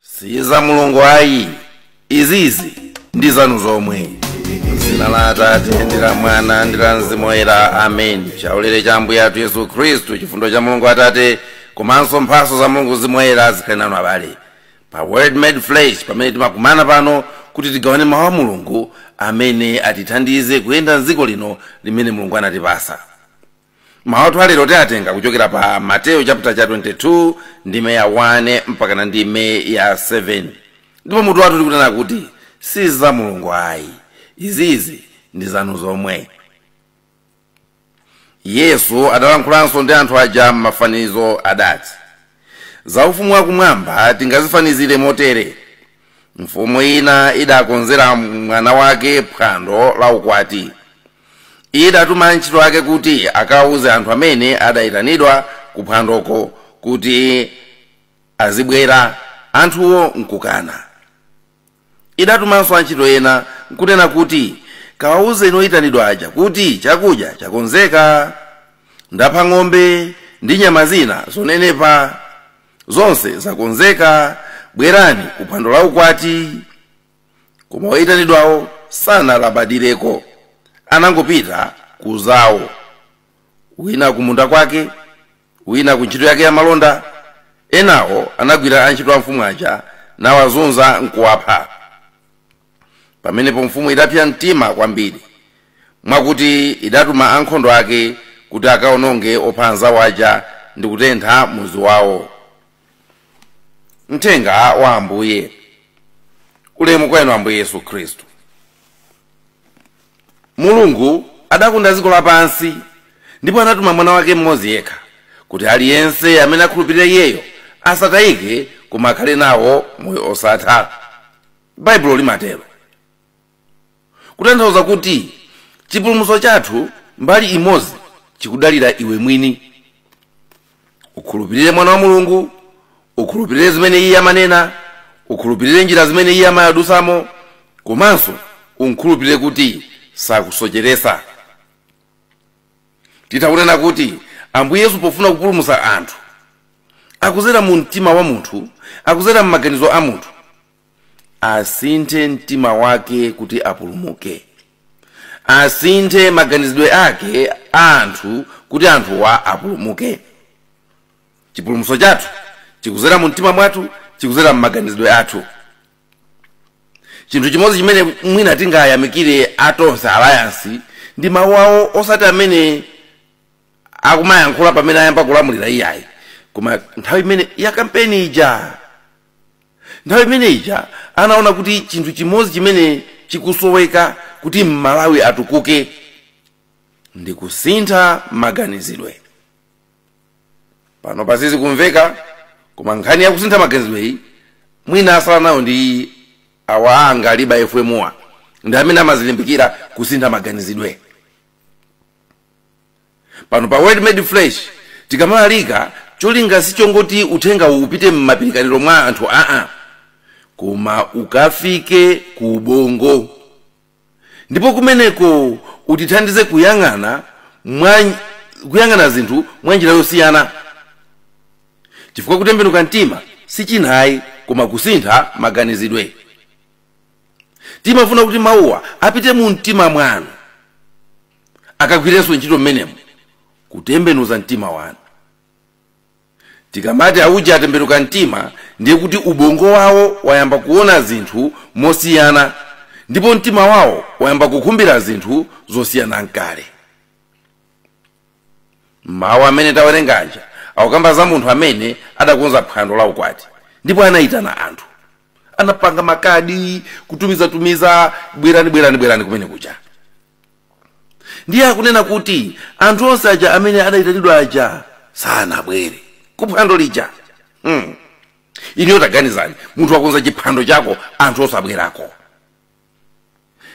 si za mulungu ayi izizi ndi zanu zomwe m'dzina la atate ndi la mwana ndi la mzimu woyera amen chaulere cha ambuye athu yesu khristu chifundo cha mulungu atate komanso mphatso za mulungu mzimu woyera zikhale nanu abale pa word made flesh pamene timakumana pano kuti tigawane mawu a mulungu amene atithandize kuyenda mdziko lino limene mulungu anatipasa mawu athu alero tiatenga kuchokera pa mateyo chapter cha 22 ndime ya 1 mpaka na ndime ya 7 ndipo mutu wathu tikunena kuti si za mulungu ayi izizi ndi zanu zomwe yesu adalankhulanso ndi anthu aja m'mafanizo adati za ufumu wakumwamba tingazifanizire motere mfumu ina idakonzera mwana wake phwando la ukwati idatuma antchito ake kuti akawuze anthu amene adayitanidwa ku phwandoko kuti azibwera anthuwo nkukana idatumanso antchito ena nkunena kuti kawawuzeni oyitanidwa aja kuti chakudya chakonzeka ndapha ng'ombe ndi nyama zina zonenepa zonse zakonzeka bwerani ku phwando la ukwati koma oyitanidwawo sanalabadireko anangopita ku zawo wina kumunda kwake wina ku ntchito yake ya malonda enawo anagwira antchito a mfumu aja nawazunza nkuwapha pamenepo mfumu idapsa mtima kwambiri mwakuti idatuma ankhondo ake kuti akaononge opha anzawo aja ndi kutentha mudzi wawo mthenga wa ambuye ulemu kwa inu ambuye yesu khristu mulungu adakonda dziko lapansi ndipo anatuma mwana wake mmodzi yekha kuti aliyense amene akhulupirira iyeyo asatayike koma akhale nawo moyo osatha Baibulo limatero, kutanthauza kuti chipulumutso chathu mbali imodzi chikudalira iwe mwini. Ukhulupirire Mwana wa Mulungu, ukhulupirire zimene iye amanena, ukhulupirire njira zimene iye amadutsamo, komanso umkhulupirire kuti sakusocheretsa. Titha kunena kuti Ambuye Yesu pofuna kupulumutsa anthu, akudzera mu mtima wa munthu, akudzera m'maganizo a munthu, asinthe mtima wake kuti apulumuke asinthe maganizidwe ake a anthu kuti anthuwa apulumuke chipulumutso chathu chikuzera mu mtima mwathu chikuzera mu maganizidwe athu chinthu chimodzi chimene mwina tingayamikire a tonse alliance ndi mawu awo osati amene akumayankhula pamene ayamba kulamulira iyayi koma nthawi imene ya kampeni ija Nthawi imene ija anaona kuti chinthu chimodzi chimene chikusoweka kuti Malawi atukuke ndi kusintha maganizidwe. Panopa sizikumveka koma nkhani ya kusintha maganizidweyi mwina asala nayo ndi awa a Angaliba FM-wa ndi amene amazilimbikira kusintha maganizidwe. pano pa word made flesh tikamalalika cholinga sichongoti uthengawo upite m'mapirikaniro mwa anthu aa koma ukafike ku ubongo ndipo kumeneko utithandize kuyang'ana zinthu mwa njira yosiyana chifukwa kutembenuka mtima sichinayi koma kusintha maganizidwe timafuna kuti mawuwa apite mu mtima mwanu akagwirenso ntchito mmenemo kutembenuza mtima wanu tikamati auja atembenuka mtima ndiye kuti ubongo wawo wayamba kuona zinthu mosiyana ndipo mtima wawo wayamba kukhumbira zinthu zosiyana nkale mawu amene tawerenga aja akukamba za munthu amene adakonza phwando la ukwati ndipo anayitana anthu anapanga makadi kutumizatumiza bwerani bwerani bwerani kumene kuja ndiye akunena kuti anthu onse aja amene adayitanidwa aja sanabwere kuphwando lija hmm. iniyo taganizani munthu wakonza chiphwando chako anthu osabwerako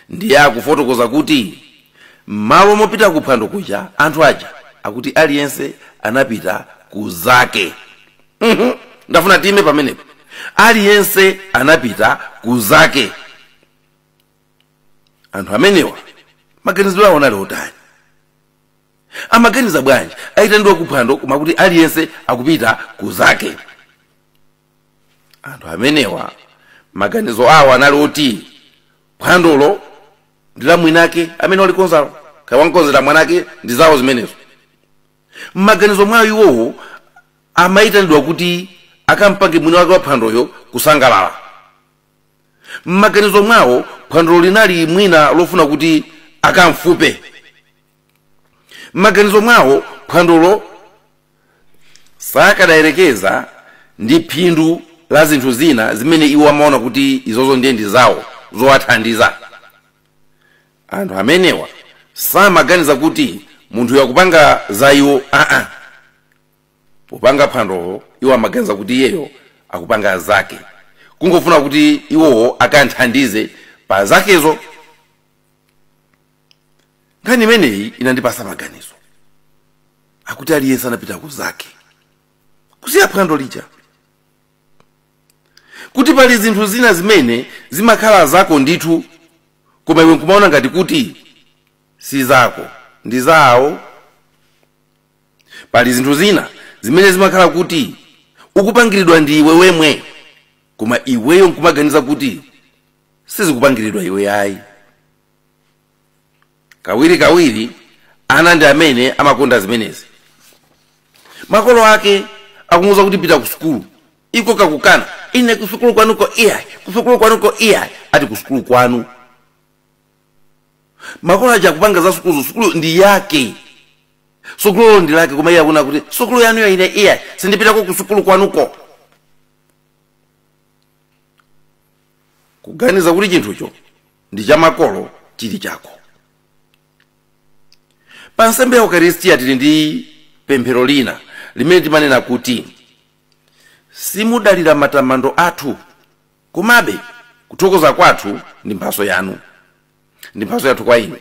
ndiye akufotokoza kuti m'malo mopita kuphwando kuja anthu aja akuti aliyense anapita ku zake Mhm. ndafuna tiime pamenepo aliyense anapita ku zake anthu amenewa maganizidwe awo anali otani amaganiza bwanji ayitanidwa kuphwando koma kuti aliyense akupita ku zake anthu amenewa maganizo awo anali oti phwandolo ndi la mwiniwake amene walikonzalo kaya wamkonzera mwanake ndi zawo zimenezo mmaganizo mwawo iwowo amayitanidwa kuti akampange mwini wake wa phwandoyo kusangalala m'maganizo mwawo phwandolo linali mwina lofuna kuti akamfupe m'maganizo mwawo phwandolo sakadayerekeza ndi phindu la zinthu zina zimene iwo amaona kuti izozo ndiye ndi zawo zowathandiza anthu amenewa samaganiza kuti munthuyu akupanga za iwo aa popanga phwandolo iwo amaganiza kuti iyeyo akupanga zake kungofuna kuti iwowo akanthandize pa zakezo nkhani imeneyi inandipasa maganizo akuti aliyense anapita ku zake kusiya phwando lija kuti pali zinthu zina zimene zimakhala zako ndithu koma iwe nkumaona ngati kuti si zako ndi zawo pali zinthu zina zimene zimakhala kuti ukupangiridwa ndi iwe wemwe koma iweyo nkumaganiza kuti sizikupangiridwa iwe ayi kawiri kawiri ana ndi amene amakonda zimenezi makolo ake akumuuza kuti pita ku sukulu iko kakukana ine kusukulu kwanuko iyayi kusukulu kwanuko iyayi ati kusukulu kwanu makolo aja akupanga za sukulu sukulu ndi yake sukuluyo ndi yake koma iye akuona kuti sukulu yanuyo ine iyayi sindipitako ku sukulu kwanuko kuganiza kuti chinthucho ndi cha makolo chili chako pa nsembe ya ukaristiya tili ndi pemphero lina limene timanena kuti simudalira matamando athu Komabe, kuthokoza kwathu ndi mphatso yanu. Ndi mphatso yathu kwa inu.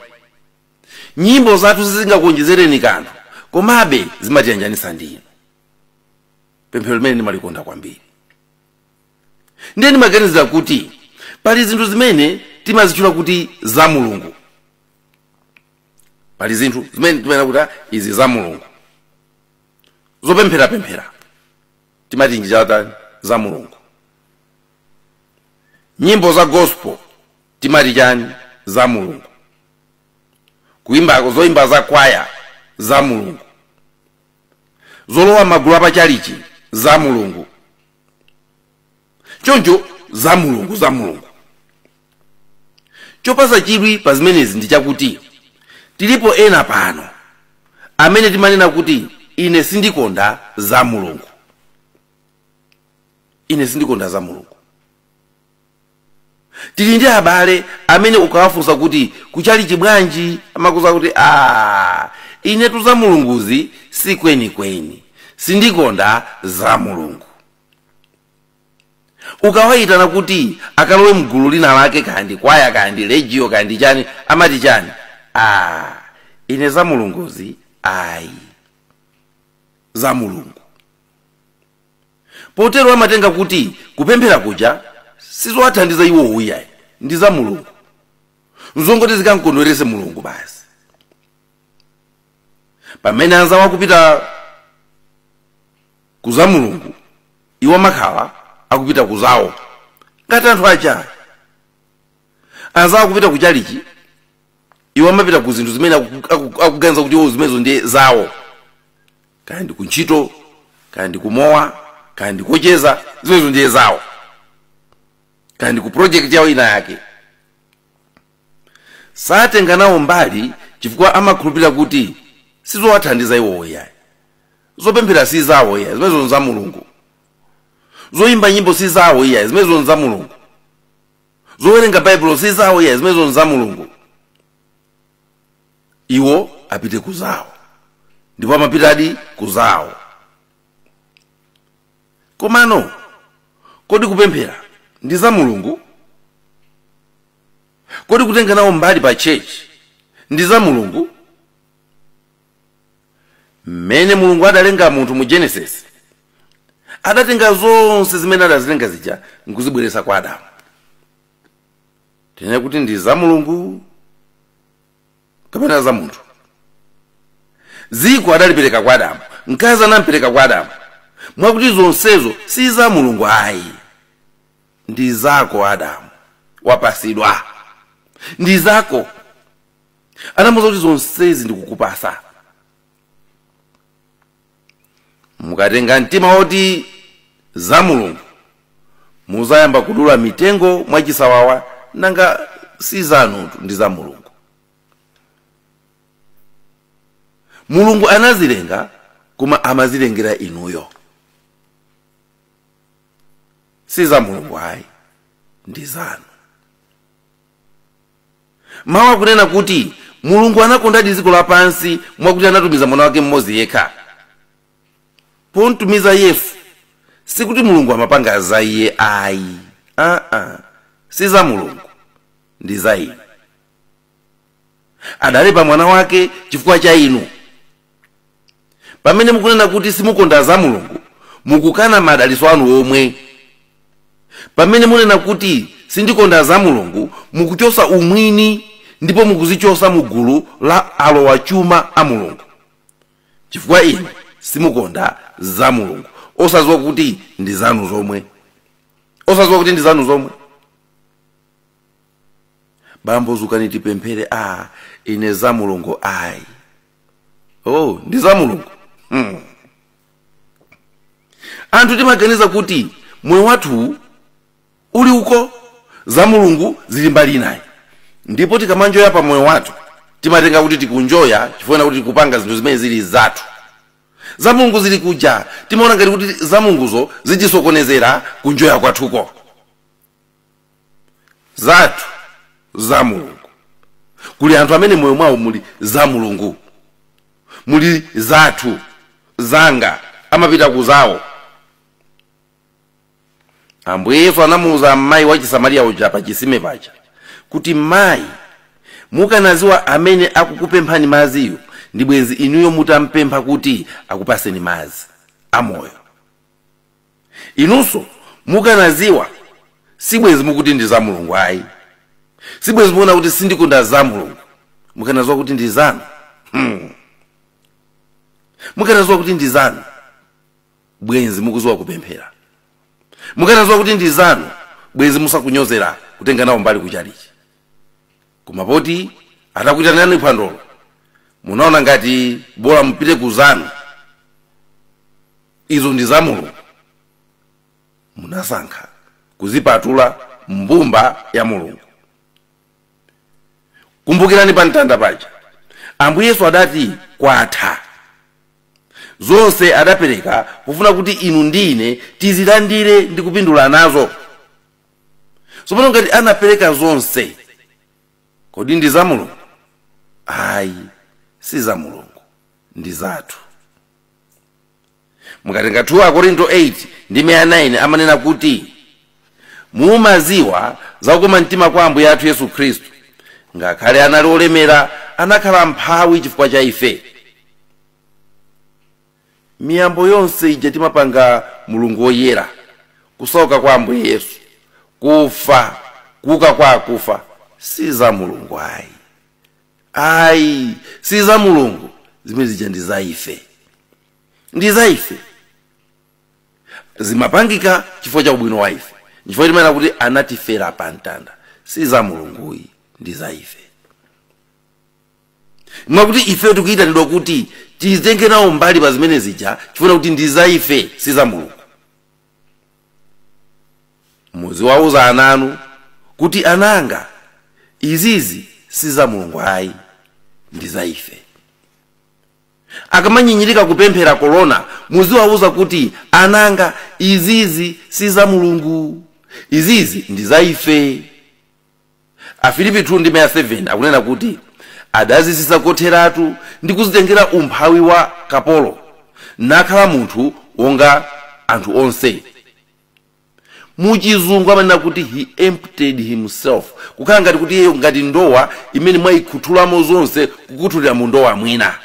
Nyimbo zathu sizingakuonjezereni kanthu, komabe zimatiyanjanitsa ndi inu. Pemphero limene ndimalikonda kwambiri. Ndiye ndimaganizira kuti pali zinthu zimene timazitchula kuti za Mulungu. Pali zinthu zimene timanena kuti "Ah, izi za Mulungu. Zopempherapemphera. timati nchani za mulungu nyimbo za gospel timati chani za mulungu kuimba zoimba za kwaya za mulungu zolowa magulu apachalichi za mulungu choncho za mulungu za mulungu chopasa chidwi pa zimenezi ndi chakuti tilipo ena pano amene timanena kuti ine sindikonda za mulungu ine sindikonda za mulungu tili ndi abale amene ukawafunsa kuti kuchalichi bwanji amakuuza kuti a inetu za mulunguzi si kwenikweni sindikonda za mulungu ukawayitana kuti akalowe mgulu lina lake ka ndi kwaya ka ndi legio ka ndi chani amati chani ah, ine za mulunguzi ayi za mulungu potero amatenga kuti kupemphera kuja sizowathandiza iwo uyayi ndi za mulungu nzongoti zikamkondwerese mulungu basi pamene anzawo akupita ku za mulungu iwo amakhala akupita ku zawo ngati anthu aja anzawo akupita ku chalichi iwo amapita ku zinthu zimene aku- aku- akuganiza kuti iwo zimenezo ndiye zawo kaya ndi kuntchito kaya ndi kumowa kaya ndi kocheza zimenezo ndiye zawo kaya ndi ku project yawo ina yake satenga nawo mbali chifukwa amakhulupirira kuti sizowathandiza iwowo yayi zopemphera si zawo iyayi zimenezo nza mulungu zoyimba nyimbo si zawo iyayi zimenezo nza mulungu zowerenga baibulo si zawo iyayi zimenezo nza mulungu iwo apite ku zawo ndipo amapitadi ku zawo komano kodi kupemphera ndi za mulungu Kodi kutenga nawo mbali pa church ndi za Mulungu? Mmene Mulungu adalenga munthu mu Genesis, adatenga zonse zimene adazilenga zija nkuzibweretsa kwa Adamu. Tinene kuti ndi za Mulungu kapena za munthu? Dziko adalipereka kwa Adamu, mkazi anampereka kwa Adamu, mwakuti zonsezo si za Mulungu ayi. ndi zako adamu wapasidwa ndi zako anamuuza kuti zonsezi ndikukupasa mukatenga mtima woti za mulungu muzayamba kudula mitengo mwachisawawa nanga si zanutu ndi za mulungu mulungu anazilenga koma amazilengera inuyo si za mulungu ayi ndi zanu mawu akunena kuti mulungu anakondadi dziko lapansi mwakuti anatumiza mwana wake mmodzi yekha pomtumiza yesu sikuti mulungu amapanga za iye ayi aa si za mulungu ndi za ine adalipa mwana wake chifukwa cha inu pamene mukunena kuti simukonda za mulungu mukukana madalitso anu omwe pamene munena kuti sindikonda za mulungu mukuchosa umwini ndipo mukuzichosa mu gulu la alowa chuma a mulungu chifukwa inu simukonda za mulungu osaziwa kuti ndi zanu zomwe osaziwa kuti ndi zanu zomwe bambo zukani tipemphere a ine za mulungu ayi oh ndi za mulungu hmm. anthu timaganiza kuti moyo wathu uli uko za mulungu zili mbali inayi ndipo tikamanjoya pa moyo wathu timatenga kuti tikunjoya chifukwa choti tikupanga zinthu zimene zili zathu za mulungu zili kuja timaona ngati kuti za mulunguzo zitisokonezera kunjoya kwathuko zathu za mulungu kuli anthu amene moyo mwawo muli za mulungu muli zathu zanga amapita kuzawo ambuye yesu anamuwuza mayi wa chisamariya uja pa chisime paja kuti mayi mukanaziwa amene akukupemphani maziyo ndi bwenzi inuyo mutampempha kuti akupaseni mazi amoyo inunso mukanaziwa sibwenzi mukuti ndi za mulungu ayi sibwenzi mukuona kuti sindikonda za mulungu mukanaziwa kuti ndi zanu hmm. mukanaziwa kuti ndi zanu bwenzi mukuziwa kupemphera mukanaziwa kuti ndi zanu bwenzi musakunyozera kutenga nawo mbali kuchalichi koma poti atakuitanani phwandolo munaona ngati bola mupite ku zanu izo ndi za mulungu munasankha kuzipatula mbumba ya mulungu kumbukirani pa mtanda paja ambuye yesu adati kwatha zonse adapereka pofuna kuti inu ndi ine tizilandire ndi kupindula nazo tsopano ngati anapereka zonse kodi ndi za mulungu ayi si za mulungu ndi zathu mukatenga 2 akorinto 8 ndime ya 9 amanena kuti mumaziwa za kukoma mtima kwa ambuye athu yesu khristu ngakhale anali olemera anakhala mphawi chifukwa cha ife miyambo yonse ija timapanga mulungu woyera uja kusauka kwa ambuye yesu kufa kuuka kwa akufa si za mulungu ayi ayi si za mulungu zimene zija ndi za ife ndi za ife zimapangika chifukwa cha ubwino wa ife chifukwa timanena kuti anatifera pa mtanda si za mulungu ayi ndi za ife mwakuti ife tikuyitanidwa kuti tizitenge nawo mbali pa zimene zija chifukwa kuti ndi za ife si za mulungu muziwauza ana anu kuti ananga izizi si za mulungu ayi ndi za ife akamanyinyirika kupemphera korona muziwauza kuti ananga izizi si za mulungu izizi ndi za ife Afilipi 2:7 akunena kuti adadzitsitsa kotheratu ndi kuzitengera umphawi wa kapolo, nakhala munthu wonga anthu onse. Mu chizungu amanena kuti he emptied himself, kukhala ngati kuti iyeyo ngati ndowa imene mwayikhuthulamo zonse kukhuthulira mu ndowa mwina.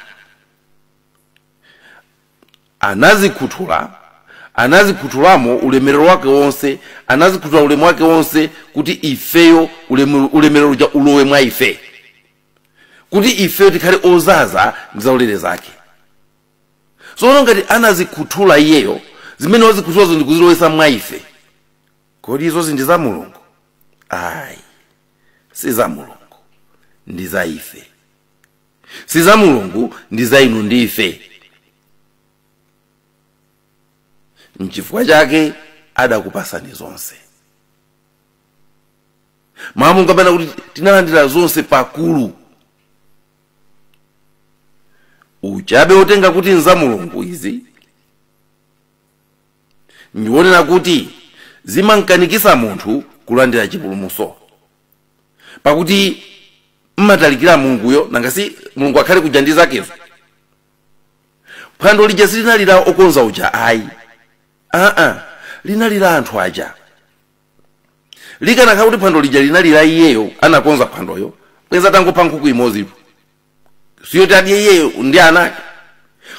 Anazikhuthula, anazikhuthulamo ulemerero wake wonse, anazikhuthula ulemu wake wonse, kuti ifeyo ulemerero uja ulowe mwa ife, kuti ifeyo tikhale ozaza ndi zaulere zake. Tsono ngati anazikhuthula iyeyo, zimene wazikhuthulazo ndi kuzilowetsa mwa ife, kodi izozi ndi za Mulungu? Ayi, si za Mulungu, ndi za ife. si za mulungu ndi za inu ndi ife mchifukwa chake adakupasani zonse mmawu mungamanena kuti tinalandira zonse pakulu uchabe otenga kuti nza mulungu izi ndi umene kuti umankanikisa munthu kulandira chipulumuso pakuti mmatalikira mulunguyo nanga si mulungu akhale kuja ndi zakezo phwando lija silinali la okonza uja ayi aa linali la anthu aja likanakhala kuti phwando lija linali la iyeyo anakonza phwandoyo bwenza atangopha nkhuku imodzipo siyoti adye iyeyo ndi ana ake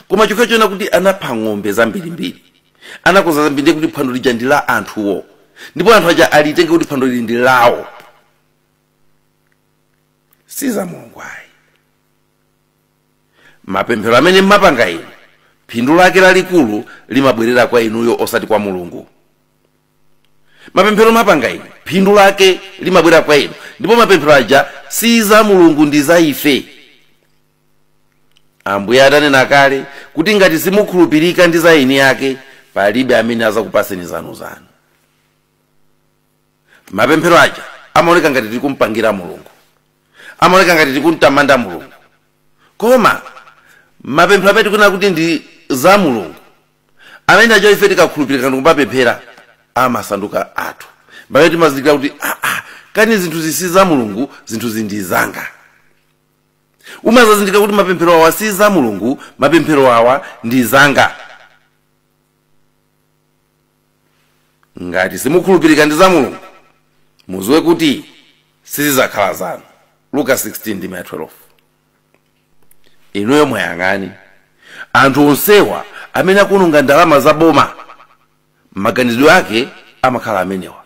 koma chokhacho choona kuti anapha ng'ombe zambirimbiri anakonza zambiri ndiye kuti phwando lija ndi la anthuwo ndipo anthu aja alitenge kuti phwando lili ndi lawo si za mulungu ayi mapemphero amene mmapanga inu phindu lake lalikulu limabwerera kwa inuyo osati kwa mulungu mapemphero mapanga inu phindu lake limabwera kwa inu ndipo mapemphero aja si za mulungu ndi za ife ambuye atanena kale kuti ngati simukhulupirika ndi za eni ake palibe amene azakupaseni zanu zanu mapemphero aja amaoneka ngati tili kumpangira mulungu amaoneka ngati tili kumtamanda mulungu koma mapemphero amene tikunena kuti ndi za mulungu amene aja ife tikakhulupirika ndikumapemphera amasanduka athu pamene timazindikira kuti aa ah, ah, kani zinthuzi si za mulungu zinthuzi ndi zanga umazazindikira kuti mapemphero awa si za mulungu mapemphero awa ndi zanga ngati simukhulupirika ndi za mulungu muziwe kuti sizizakhala zanu luka 16 ndi 12 inuyo muwayang'ane anthu onsewa amene akuononga ndalama za boma maganizidwe ake amakhala amenewa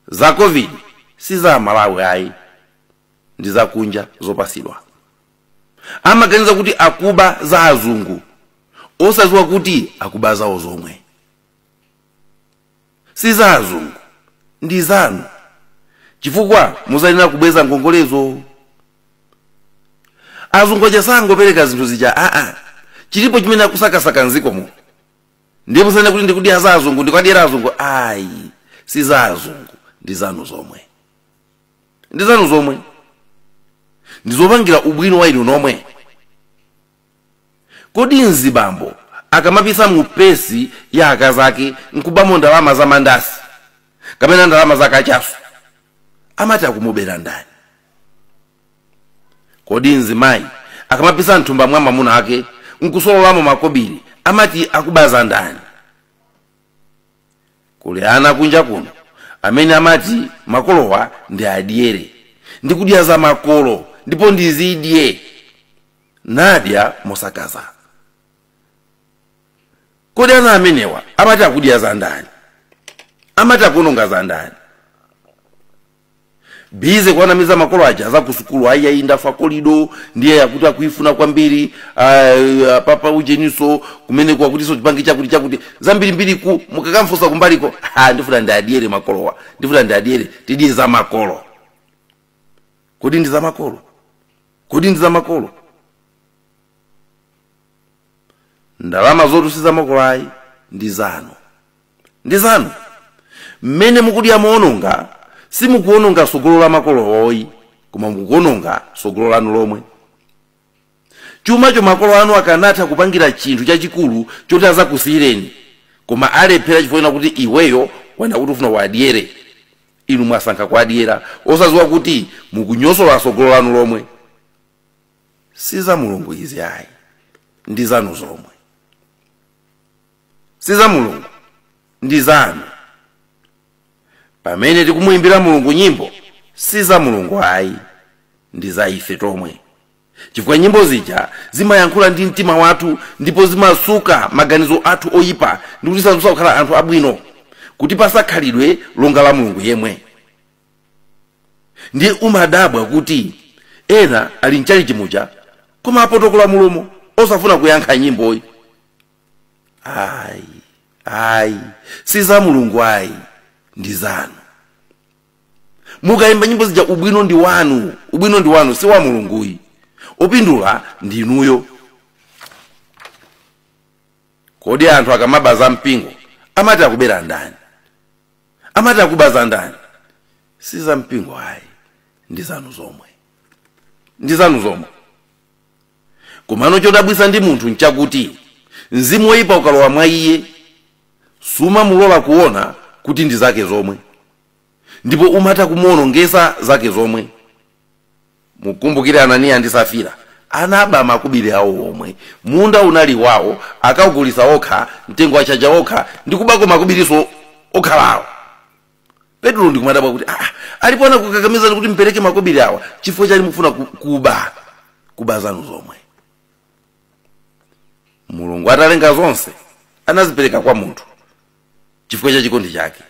za covid si za amalawi ayi ndi za kunja zopasidwa amaganiza kuti akuba za azungu osaziwa kuti akuba zawo zomwe si za azungu ndi zanu chifukwa muzayenera kubweza ngongolezo azungu aja sangopereka zinthu zija aa chilipo chimene akusakasaka mziko muno ndiye musanene kuti ndikudya za azungu ndikuwadyera azungu ayi si za azungu ndi zanu zomwe ndi zanu zomwe ndizopangira ubwino wa inu nomwe Kodi mzibambo akamapisa mu pesi ya akazake nkubamo ndalama za mandasi kapena ndalama za kachasu amati akumubera ndani? Kodi mzimayi akamapisa mthumba mwa mwamuna ake nkusololamo makobili amati akuba za ndani? Kuli ana kunja kuno amene amati makolowa ndiadyere, ndikudya za makolo ndipo ndizidye. nadya mosakaza kodi ana amenewa amati akudya za ndani amati akuononga za ndani bize kuwanamiza makolo aja za kusukulu ayi ayi ndafa kolido ndiye yakuti akuifuna kwambiri ah, papa ujeniso kumene kwakutiso chipani chakuti chakuti zambirimbiri ku mukakamfusa kumbaliko ah, ndifuna ndiadyere makolowa ndifuna ndiadyere tidye za makolo kodi ndi zamakolo kodi ndi zamakolo ndalamazotu si zamakolo ayi ndi zanu ndi zanu mmene mukudya moononga simukuononga sogolo la makolowo ayi koma mukuononga sogolo lanu lomwe chumacho makolo anu akanatha kupangira chinthu chachikulu choti azakusiyireni koma alephera chifukwa choona kuti iweyo wanena kuti ufuna uwadyere inu mwasankha kuwadyera osaziwa kuti mukunyosola sogolo lanu lomwe si za mulungu izi ayi ndi zanu zomwe si za mulungu ndi zanu pamene tikumuyimbira mulungu nyimbo si za mulungu ayi ndi za ife tomwe chifukwa nyimbo zija zimayankhula ndi mtima wathu ndipo zimasuka maganizo athu oyipa ndi kutisandutsa kukhala anthu abwino kutipasa khalidwe longa la mulungu yemwe ndiye umadabwa kuti ena ali mchalichi muja koma apotokola mulomo osafuna kuyankha nyimboyi ayi ayi si za mulungu ayi ndi zanu mukayimba nyimbo zija ubwino ndi wanu ubwino ndi wanu si wa mulunguyi opindula ndi inuyo kodi anthu akamaba za mpingo amati akubera ndani amati akuba za ndani si za mpingo ayi ndi zanu zomwe ndi zanu zomwe Komano chodabwitsa ndi munthu nchakuti mzimu woipa ukalowa mwa iye, sumamulola kuona kuti ndi zake zomwe ndipo umatha kumuwonongetsa zake zomwe. Mukumbukire Ananiya ndi Safira anaba makobiri awo omwe, munda unali wawo, akaugulitsa okha, mtengo achaja okha, ndi kubako makobirinso okhala awo. petulo ndikumadabwa kuti ah, alipo anakukakamizani kuti mpereke makobiri awa chifukwa chani mukufuna ku- kuba kuba zanu zomwe mulungu atalenga zonse anazipereka kwa munthu chifukwa cha chikondi chake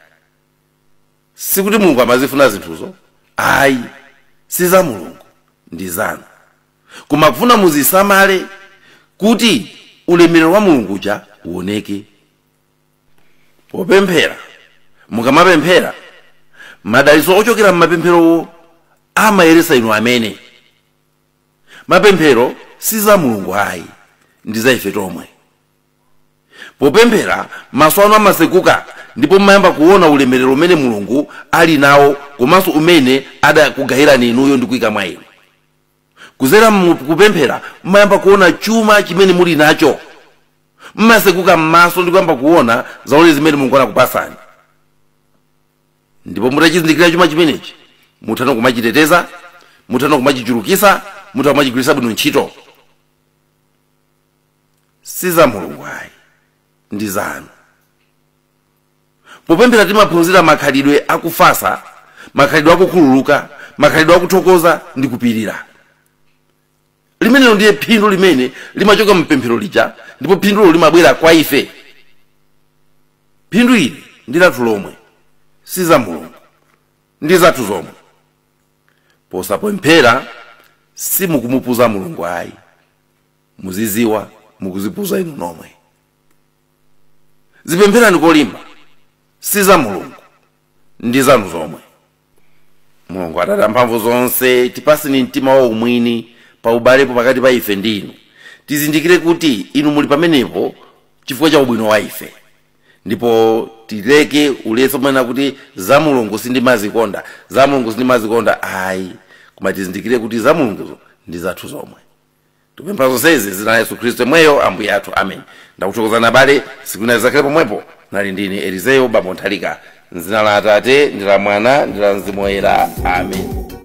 sikuti mulungu amazifuna zinthuzo ayi si za mulungu ndi zanu koma akufuna muzisamale kuti ulemerero wa mulungu uja uoneke popemphera mukamapemphera madalitso ochokera m'mapempherowo amayeretsa inu amene mapemphero si za mulungu ayi ndi za ife tomwe popemphera maso anu amatsekuka ndipo mumayamba kuona ulemerero umene mulungu ali nawo komanso umene adakugayirani inuyo ndi kuyika mwa inu kuzera mu kupemphera mmayamba kuona chuma chimene muli nacho mmaseguka m'maso ndi kuyamba kuona zaone zimene mulungu anakupasani ndipo mutachizindikira chuma chimenechi muthano kumachiteteza muthano kumachichulukisa mutha kumachigwiritsa bwino ntchito si za mulungu ayi ndi zanu Popemphera timaphunzira makhalidwe a kufatsa, makhalidwe a kukhululuka, makhalidwe a kuthokoza ndi kupirira. Limenelo ndiye phindu limene limachoka mu pemphero lija ndipo phindulo limabwera kwa ife. Phindu ili ndi lathu lomwe, si za Mulungu, ndi zathu zomwe. Posapemphera simukumupuza Mulungu ayi, muzidziwa mukuzipuza inu nomwe. zipempherani kolimba si za mulungu ndi zanu zomwe mulungu atate amphamvu zonse tipaseni mtima wa umwini pa ubalepo pakati pa ife ndi inu tizindikire kuti inu muli pamenepo chifukwa cha ubwino wa ife ndipo tileke ulesi ponena kuti za mulungu sindimazikonda za mulungu sindimazikonda ayi koma tizindikire kuti za mulungu ndi zathu zomwe tikupempha zonsezi mzina la yesu khristu yemweyo ambuye athu amen ndakuthokozani abale tsiku lina zizakhale pomwepo ndinali ndine elizeyo bambo nthalika mzina la atate ndi la mwana ndi la mzimu woyera amen